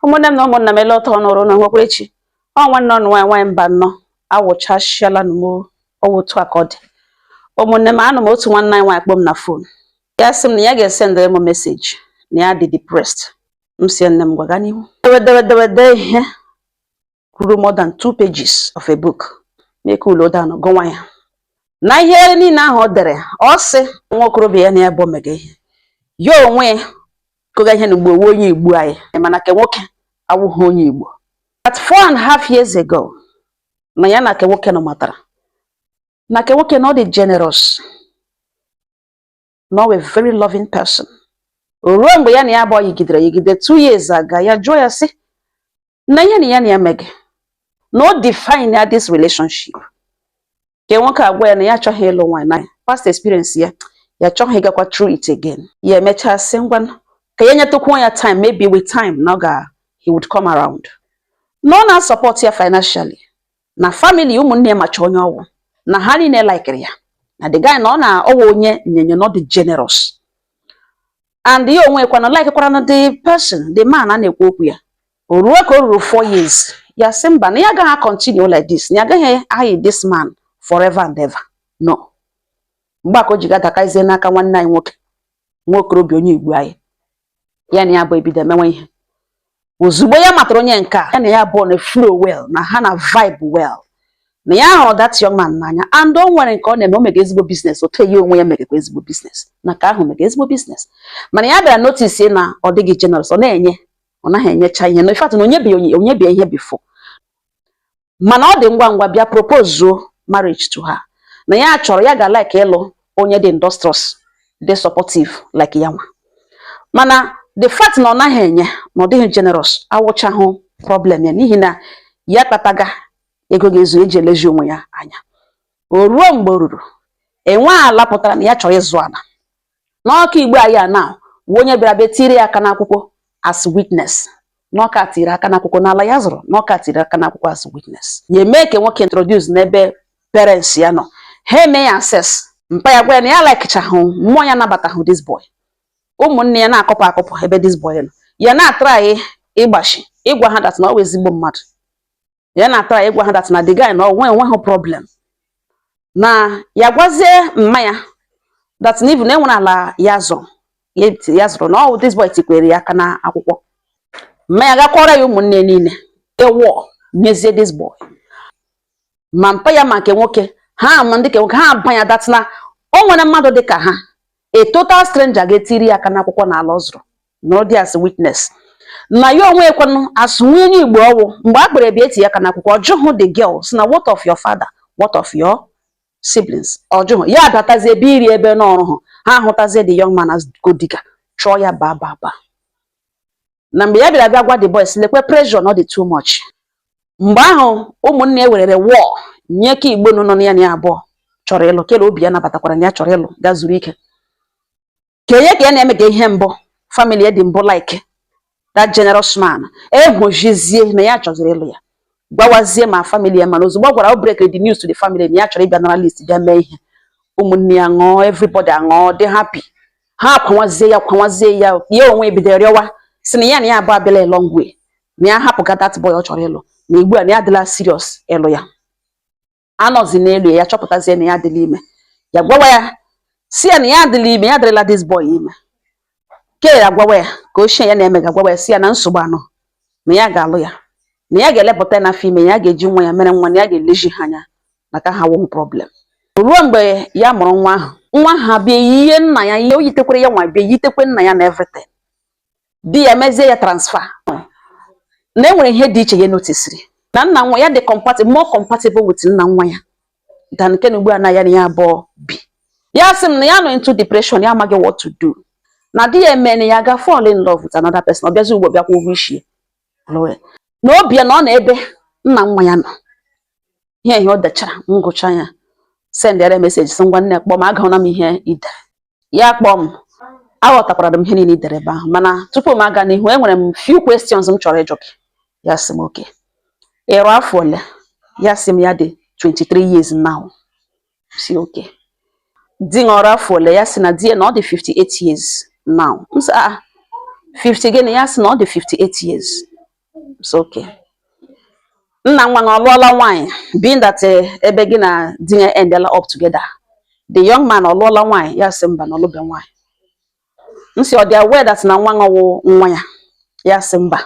ụmụnne m na ụmụnna m ele otu ọnụ rụ na nwekwara echi ọ nwanne ọnụ nwaanyị nwaanyị mbanọ awụchasịala nụ m ọ wụ otu a ka ọ dị ụmụnne m anụ m otu nwanne anyị nwaanyị kpọ m na fon ya sị m na ya ga-esendere m meseji na ya dị depressed m si nne m gwaga n'ihu dewe dewe dewe de ihe ruru more than two pages of a book m ekuuluo down gụwa ya na ihe niile ahụ ọ dere ọ sị nwa okorobịa ya na ya abụọ mega ihe ya onwe kọga ihe nụ ugbu a wụ onye igbo anyị mana ke nwoke awụghị onye igbo about four and half years ago na ya na ke nwoke nụ matara na ke nwoke na ọ dị generous na ọ wụ a very loving person o ruo mgbe ya na ya abụọ yigidere yigide two years aga ya jụọ ya sị na ihe na ya na ya mega na o definea this relationship ke nwoke agwa ya na ya achọghị ịlụ nwaanyị na past experience ya ya achọghị ịgakwa through it again ya emechaa sị ngwa ka ya nyetụkwuo ya time maybe with time na ọ ga he would come around na ọ na-asọpọt ya financially na famili ụmụnne ya macha onye ọ wụ na ha niile laikiri ya na the guy na ọ na ọ wụ onye nyenye na ọ dị generous and ya onwe kwa na likekwara na the person the man a na-ekwu okwu ya o ruo ka o ruru four years ya sị mba na ya agaghị continue like this na ya agaghị ayi this man forever and ever na ọ mgbe a ka o ji ga dakazie n'aka nwanne anyị nwoke nwa okorobịa onye igbo anyị ya na ya abụọ ebido emewe ihe ozugbo ya matara onye nke a ya na ya abụọ na-aflow well na ha na-avibe well na ya hụrụ that young man n'anya and o nwere nke ọ na-eme o mega ezigbo biznes otu a ya onwe ya megakwa ezigbo biznes na ke ahụ mega ezigbo biznes mana ya bịara notice na ọ dịghị generous ọ na-enye ọ naghị enyecha ihe na in fact na o nyebeghị ya ihe before mana ọ dị ngwa ngwa bịa propozuo marriage to her na ya chọrọ ya ga like ịlụ onye dị industrious dị supportive like ya nwa mana the fact na ọ naghị enye na ọ dịghị generous awụchahụ problem ya n'ihi na ya kpataga ego ga-ezu eji elezi onwe ya anya o ruo mgbe o ruru e nwee ala pụtara na ya chọrọ ịzụ ala na ọ ke igbo anyị a na wụ onye bịara bịa tiri ya aka n'akwụkwọ as witness na ọ ke a tiri aka n'akwụkwọ n'ala ya zụrụ na ọ ke a tiri aka n'akwụkwọ as witness ya eme ke nwoke introduce n'ebe parents ya nọ ha eme ya assess mpa ya gwa ya na ya alaikichahụ mmụọ ya anabatahụ this boy ụmụnne ya na-akọpụ akọpụ ebe this boy nọ ya na-atry ịgbachi ịgwa ha that na ọ wụ ezigbo mmadụ ya na-atry ịgwa ha that na the guy na o nwe o nweghị problem na ya gwazie mma ya that na even e nwere ala ya zọ ya zụrụ na ọ wụ this boy tikwere ya aka na akwụkwọ mma ya ga kọọra ya ụmụnne niile ewọ nyezie this boy ma mpa ya ma nke nwoke ha ma ndị nke nwoke ha abanya that na o nwere mmadụ dị ka ha a total stranger ga-etiri ya aka n'akwụkwọ na ala ọ zụrụ na ọ dị as witness na ya onwe ekwenụ as nwunye onye Igbo ọwụ mgbe a kpere bịa eti aka n'akwụkwọ ọ jụhụ the girl sị na what of your father what of your siblings ọ jụhụ ya abatazie ebe iri ebe n'ọrụ hụ ha ahụtazie the young man as gold digger chụọ ya baa baa baa na mgbe ya bịara bịa gwa the boys lekwe pressure na ọ dị too much mgbe ahụ ụmụnne ya werere war nye ka Igbo nọ na ya na ya abụọ chọrọ ịlụ kere obi ya nabatakwara na ya chọrọ ịlụ gaa zuru ike okenye ka ya na-eme ga ihe mbụ family ya dị mbụ like that generous man ahụ sịzie na ya chọziri ịlụ ya gwawazie ma family ya mana ozugbo ọ gwara o break the news to the family na ya chọrọ ịbịa nara list bịa mee ihe ụmụnne ya ṅụọ everybody aṅụọ dị happy ha akwawazie ya kwawazie ya ya onwe ebido rịọwa sị na ya na ya abụọ abịala long way na ya hapụga that boy ọ chọrọ ịlụ na ugbu a na ya adịla serious ịlụ ya anọzi n'elu ya chọpụtazie na ya adịla ime ya gwawa ya sị ya na ya adịla ime ya adịrịla this boy ime ke ya gwawa ya nke ochie ya na-eme ga gwawa ya sị ya na nsogbu anọ na ya ga-alụ ya na ya ga-elepụta ya na afọ ime ya ga-eji nwa ya mere nwa na ya ga-elezi ha anya maka ha wụhụ problem o ruo mgbe ya mụrụ nwa ahụ nwa ha bịa yie nna ya ihe o yitekwere ya nwa bịa yitekwe nna ya na everything di ya mezie ya transfer na enwere ihe dị iche ya notisiri na nna nwa ya dị compatible more compatible with nna nwa ya than nke na ugbu a na ya na ya abụọ bi ya sị m na ya nọ into depression ya amaghị what to do na di ya emene ya ga fall in love with another person ọ bịazi ugbo bịakwa ụgwọ isi na obi ya nọ na ebe nna nwa ya nọ ihe ihe ọ dechara m gụcha ya sendere message sị ngwa nne kpọọ m agụọla m ihe i de ya kpọọ m aghọtakwara m ihe niile i dere ebe ahụ mana tupu m aga n'ihu enwere m few questions m chọrọ ịjụ gị ya sị m okay ị rụ afọ ole ya sị m ya dị 23 years now sị okay di nụ ọ rụ afọ ole ya sị na di ya na ọ dị 58 years now m sị a ah, 50 gịnị ya sị na ọ dị 58 years it's okay nna nwa ọ lụọla nwaanyị being that eh, ebe gị na di ya endela up together the young man ọ lụọla nwaanyị ya sị mba na ọ lụbe nwaanyị m sị ọ dị aware that na nwa ọ wụ nwa ya ya sị mba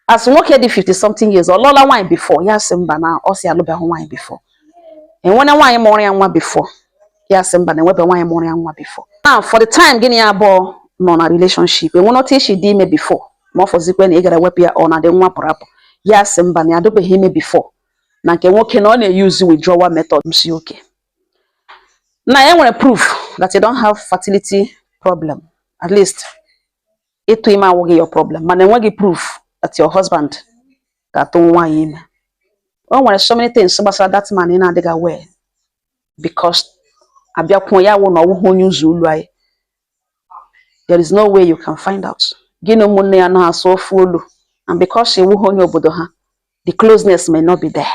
as nwoke dị 50 something years ọ lụọla nwaanyị before ya sị mba na ọ sị alụbeghị nwaanyị before enwere nwaanyị mụụrụ ya nwa before ya sị mba na enwebe nwaanyị mụụrụ ya nwa before now for the time gị na ya abụọ nọ na relationship enwene otu i si dị ime before ma ọ wụzikwe na ị gara wepụ ya ọ na-adị nwa pụrụ apụ ya sị mba na ya adịbeghị ime before na nke nwoke na ọ na-eyuzu withdrawal method sị okay now e nwere proof that you don't have fertility problem at least ịtụ ime awụghị your problem mana enweghị proof that your husband ga-atụ nwaanyị ime o nwere so many things gbasara that man ị na-adịghị aware because abịakwuo ya wụ na ọ wụghị onye ụzọ ụlọ anyị there is no way you can find out gị na ụmụnne ya na-asụ ofu olu and because ị wụghị onye obodo ha the closeness may not be there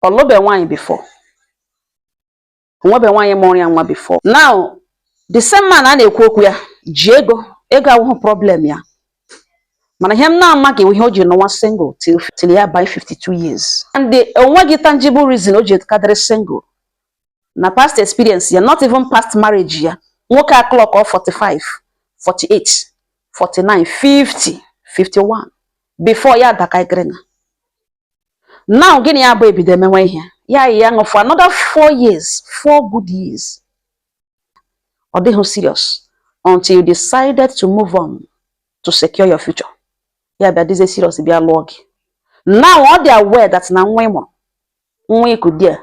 ọ lụbe nwaanyị before o nwebe nwaanyị mụụrụ ya nwa before now the same man a na-ekwu okwu ya ji ego ego awụhụ problem ya mana ihe m na-amaghị ihe o ji nọwa single till ya abaa 52 years and o nweghị tangible reason o ji kadịrị single na past experience ya not even past marriage ya nwoke a clock ọ 45 48 49 50 51 before ya adaka igrena now gị na ya bịa ebido emewe ihe ya yi ya ṅụ for another four years four good years ọ dịghị serious until you decided to move on to secure your future ya bịa dịzie serious bịa lụọ gị now ọ dị aware that na nwa ị mụrụ nwa i ku dị a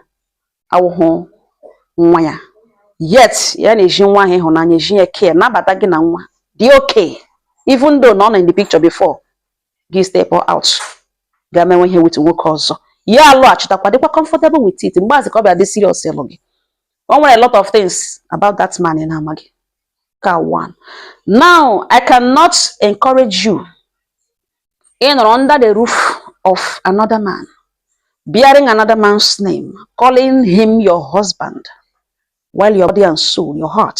awụhụ nwa ya yet ya na-ezi nwa ahụ ịhụnanya ezi ya care nabata gị na nwa dị okay even though na ọ nọ in the picture before gị step out ga menwe ihe with nwoke ọzọ ya alọghachitakwa dịkwa comfortable with it mgbe azị ka ọ bịa dị serious ịlụ gị o nwere a lot of things about that man ị na-amaghị ka one now I cannot encourage you ịnọrọ under the roof of another man bearing another man's name calling him your husband while your body and soul your heart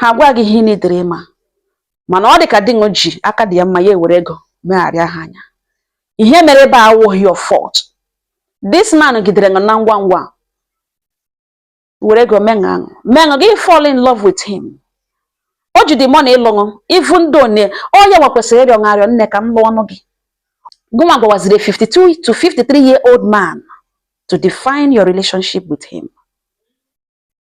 ha gwa gị ihe n'idere ịma mana ọ dị ka dị ṅụ ji aka dị ya mma ya ewere ego megharịa ha anya ihe mere ebe a awụghị your fault this man gidere ṅụ na ngwa ngwa were ego meṅụ aṅụ meṅụ gị fall in love with him o ji the money ịlụṅụ even though na ọ ya nwa kwesịrị ịrịọ ṅarịọ nne ka m lụọnụ gị gụnwa gwawaziri 52 to 53 year old man to define your relationship with him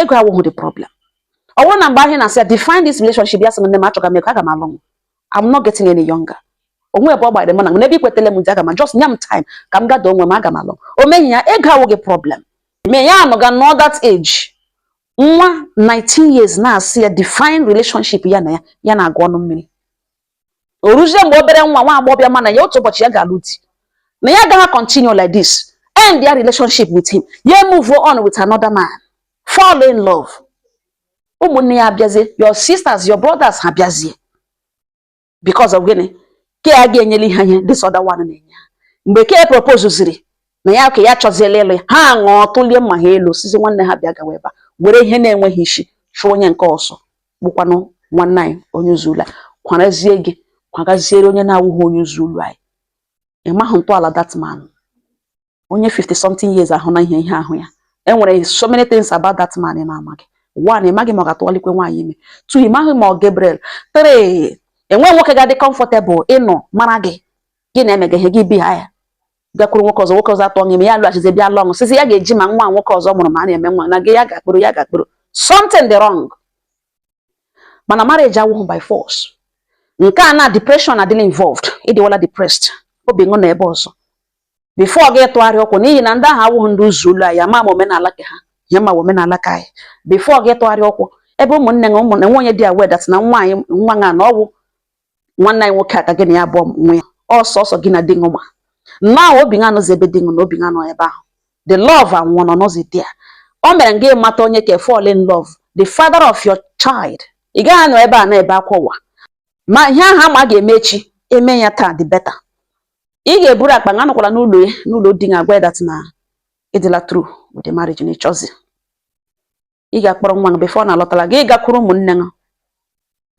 ego awụghị the problem ọ bụrụ na mgbe ahụ na-asị ya define this relationship ya sị nne m achọga m ego aga m alụ m I'm not getting any younger o nwe ebe ọ gbara m na n'ebe i kwetele m dị aga ma just nye m time ka m gather onwe m aga m alụ o meghị ya ego awụghị problem me ya anọga nọ that age nwa 19 years na-asị ya define relationship ya na ya ya na-agụ ọnụ mmiri o ruzie mgbe obere nwa nwa agbọghọ bịa ma na ya otu ụbọchị ya ga-alụ di na ya agaghị continue like this end their relationship with him ya move on with another man fall in love ụmụnne ya abịazie your sisters your brothers ha bịazie because of gịnị ke a ga-enyeli ha ihe this other one na-enye ha mgbe ke propose ziri na ya ka ya chọziela ịlụ ya ha ṅụọ tụlie mma ha elu sizi nwanne ha bịa gawa ebe a were ihe na-enweghị isi chụọ onye nke ọsọ bụkwanụ nwanne anyị onye ụzọ ụlọ kwarazie gị kwagaziere onye na-awụghị onye ụzọ ụlọ anyị ị maghị ntọala that man onye 50 something years ahụ na ihe ihe ahụ ya e nwere so many things about that man ị na-amaghị one ị maghị ma ọ ga-atụwalikwe nwaanyị ime two ị maghị ma ọ Gabriel three enweghị nwoke ga-adị comfortable ịnọ mara gị gị na-emega ihe gị bi ha ya gakwuru nwoke ọzọ nwoke ọzọ atụọ ṅụ ime ya lọghachizi bịa lụọ ṅụ sịzi ya ga-eji ma nwa nwoke ọzọ mụrụ ma a na-eme nwa na gị ya ga-akpọrọ ya ga-akpọrọ something dị wrong mana marriage awụghị by force nke a na depression adịla involved ị dịwala depressed obi ṅụ nọ ebe ọzọ before gị tụgharịa ụkwụ n'ihi na ndị ahụ awụghị ndị ụzọ ụlọ anyị ama ma omenala ke ha ya ma omenala ke anyị before gị tụgharịa ụkwụ ebe ụmụnne na ụmụnne nwe onye dị aware that na nwa anyị nwa na ọ wụ nwanne anyị nwoke ka gị na ya abụọ nwe ya ọ sọsọ gị na di ṅụ ma now obi ṅa anọzi ebe di ṅụ nọ obi ṅa nọ ebe ahụ the love anwụọ ọ nọzi there o mere gị mata onye ka fall in love the father of your child ị gaghị anọ ebe a na-ebe akwa ụwa ma ihe ahụ a ma a ga-eme echi e mee ya taa the better ị ga-eburu akpa ṅa nọkwara n'ụlọ ya n'ụlọ di ṅa gwa ya that na ị dịla through with the marriage na ị chọzi ị ga-akpọrọ nwa gị before ọ na-alọtara gị gakwuru ụmụnne gị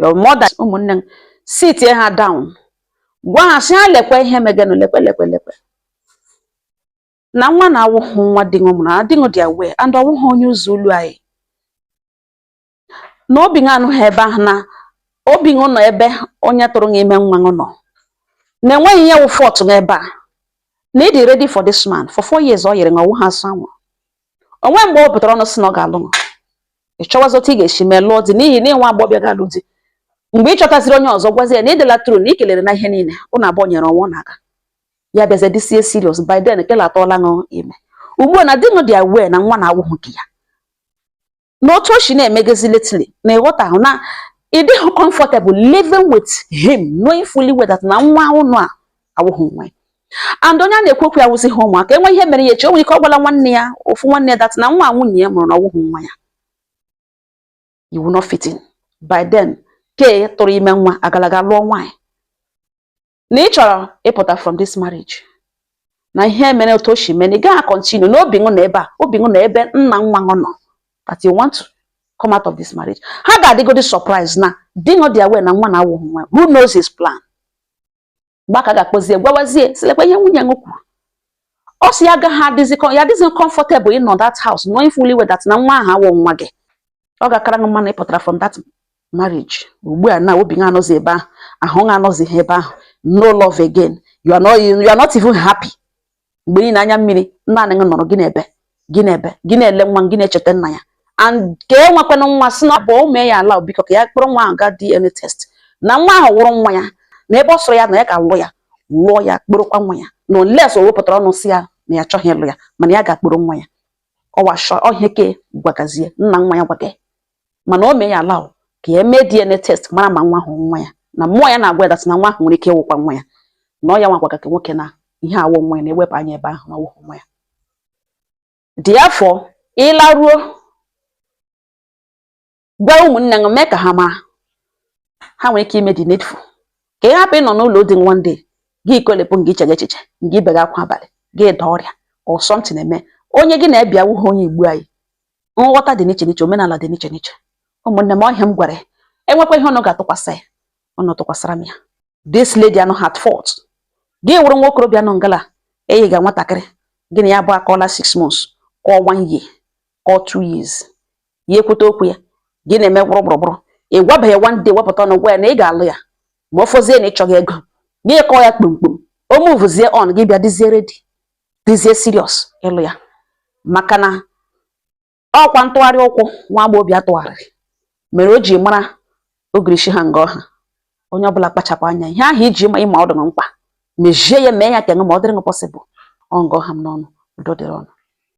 your mother ụmụnne gị sitie ha down gwa ha sị ha lekwe ihe megenụ lekwe lekwe lekwe na nwa na-awụhụ nwa di ṅụ na di ṅụ dị aware and ọ wụhụ onye ụzọ ụlọ anyị na obi gị anọghị ebe ahụ na obi gị nọ ebe onye tụrụ gị ime nwa gị nọ na enweghị ihe wụ fault gị ebe a na ị dị ready for this man for four years ọ yere gị ọwụ ha asụ anwụrụ o nwee mgbe ọ pụtara ọnụ sị na ọ ga-alụ ṅụ ị chọwazi otu ị ga-esi mee lụọ di n'ihi na ị nwa agbọbịa ga-alụ di mgbe ị chọtaziri onye ọzọ gwazi ya na ị dịla through na ị kelere na ihe niile ụnụ abụọ nyere onwe ọ na-aga ya bịazie dịzie serious by then kela atụọla ṅụ ime ugbu a na di ṅụ dị aware na nwa na-awụghị ke ya na otu o si na-emegezi lately na ị ghọtahụ na ị dịghị comfortable living with him knowing fully well that na nwa ụnụ a awụghị nwa ya and onye a na-ekwu okwu ya wụzi ha ụmụaka e nwe ihe mere ya echi o nwere ike ọ gwala nwanne ya ofu nwanne ya that na nwa nwunye ya mụrụ na ọ wụghị nwa ya you will not fit in by then ke tụrụ ime nwa agala ga lụọ nwaanyị na ị chọrọ ịpụta from this marriage na ihe mere otu o si mee na ị gaghị continue na obi ṅụ anọ ebe a obi ṅụ nọ ebe nna nwa ṅụ nọ that you want to come out of this marriage ha ga-adịgodi surprise na di ṅụ dị aware na nwa na awụghị nwa ya who knows his plan mgbe ahụ ka a ga-akpọzie gwawazie sị lekwa ihe nwunye ṅụ kwuru ọ sị ya agaghị adịzi comfortable ịnọ that house knowing fully well that na nwa ahụ awụ nwa gị ọ ga-akara gị mma na ị pụtara from that marriage ugbu a na obi gị anọzi ebe ahụ ahụ gị anọzi ha ebe ahụ no love again you are not even happy mgbe niile anya mmiri naanị gị nọrọ gị na-ebe gị na-ebe gị na-ele nwa gị na-echeta nna ya and ka e nwekwana nwa sị na ọ bụ o mee ya ala biko ka ya kpọrọ nwa ahụ gaa DNA test na nwa ahụ wụrụ nwa ya na ebe ọ sọrọ ya na ya ga-alụ ya lụọ ya kpọrọkwa nwa ya na unless o wepụtara ọnụ sị ya na ya achọghị ịlụ ya mana ya ga-akpọrọ nwa ya ọ wụ ihe a ke gwagazie nna nwa ya gwaga mana o mee ya ala ka e mee DNA test mara ma nwa ahụ nwa ya na mmụọ ya na-agwa ya that na nwa ahụ nwere ike ịwụkwa nwa ya na ọ ya nwa gwaga ka nwoke na ihe awụ nwa ya na-ewepụ anya ebe ahụ na ọ wụhụ nwa ya therefore ị laruo gwa ụmụnne gị mee ka ha mara ha nwere ike ime the needful ka ị hapụ ịnọ n'ụlọ di one day gị ikolepụ gị iche echiche gị ibega akwa abalị gị daa ọrịa or something eme onye gị na ya bi awụhụ onye igbo anyị nghọta dị n'iche n'iche omenala dị n'iche n'iche ụmụnne m ọ ihe a m gwara e nwekwa ihe unu ga-atụkwasị ya unu tụkwasịra m ya this lady anọhụ at fault gị wụrụ nwa okorobịa nọ ngala eyiga nwatakịrị gị na ya bụ akọọla six months ka ọ one year ka ọ two years ya ekwute okwu ya gị na-eme gbụrụgbụrụgbụrụ ị gwabeghị one day wepụta ọnụ gwa ya na ị ga-alụ ya ma ọ fọzie na ị chọga ego gị kọọ ya kpomkpom o muvuzie on gị bịa dịzie ready dịzie serious ịlụ ya maka na ọkwa ntụgharị ụkwụ nwa agbọghọbịa tụgharịrị mere o ji mara ogirishi ha nga ọ ha onye ọbụla kpachapụ anya ihe ahụ ị ji ma ị ma ọ dị ṅụ mkpa mezie ya mee ya ka ṅụ ma ọ dịrị ṅụ possible ọ nga ọ ha m n'ọnụ udo dịrị unu